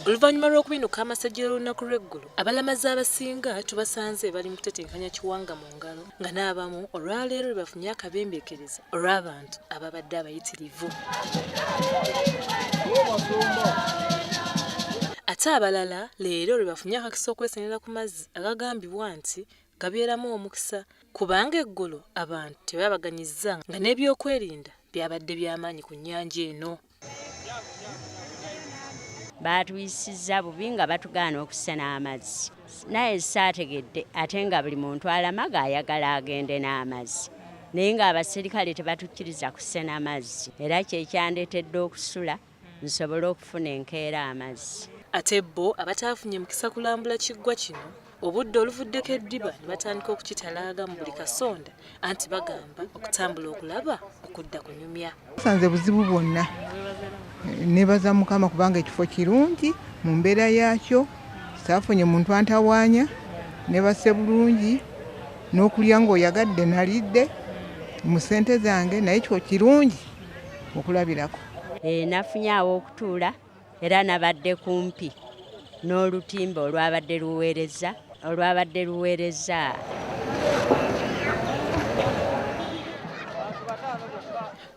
oluvannyuma lw'okubinuka amasajja olunaku lw'eggulu abalamazi abasinga tubasanze bali mu kutetenkanya kiwanga mu ngalo nga n'abamu olwaleero lwebafunye akabembeekereza olw'abantu ababadde abayitirivu ate abalala leero lwebafunye akakisa okwesenera ku mazzi agagambibwa nti gabeeramu omukisa kubanga eggulo abantu tebabaganyizza nga n'ebyokwerinda byabadde by'amaanyi ku nnyanja eno. baatuyisizza bubi nga batugaana okusena amazzi naye saategedde ate nga buli muntu alamaga ayagala agende n'amazzi naye ng'abaserikale tebatukkiriza kusena mazzi era kyekyandeetedde okusula nsobole okufuna enkeera amazzi ate bo abataafunye mukisa kulambula kiggwa kino obudde oluvuddeko eddiba ne batandika okukitalaaga mu buli kasonda anti bagamba okutambula okulaba okudda kunyumya sanze buzibu bwonna nebaza mukama kubanga ekifo kirungi mu mbeera yaakyo saafunye muntu antawaanya nebase bulungi n'okulya ng'oyagadde nalidde mu ssente zange naye kyo kirungi okulabirako Eh, nafunye aw'okutuula era nabadde kumpi n'olutimba olwabadde luweereza olwabadde luweereza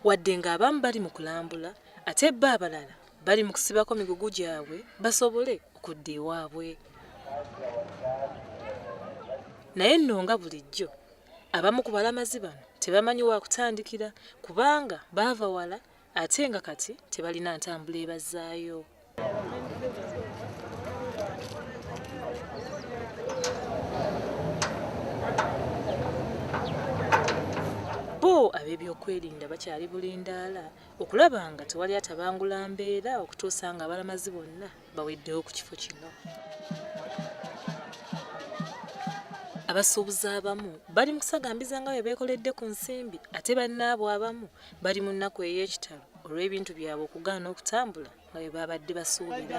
wadde ng'abamu bali mu kulambula ate bba abalala bali mu kusibako migugu gyabwe basobole okudda ewaabwe naye nno nga bulijjo Abamu ku balamazi bano tebamanyi wakutandikira kubanga baava wala ate nga kati tebalina ntambula ebazzaayo. ab'ebyokwerinda bakyali bulindaala okulaba nga tewali atabangula mbeera okutuusa nga abalamazi bonna baweddewo ku kifo kino abasuubuzi abamu bali mu kusagambiza nga bwe beekoledde ku nsimbi ate bannaabwe abamu bali mu nnaku ey'ekitalo olw'ebintu byabwe okugaana okutambula nga bwe baabadde basuubira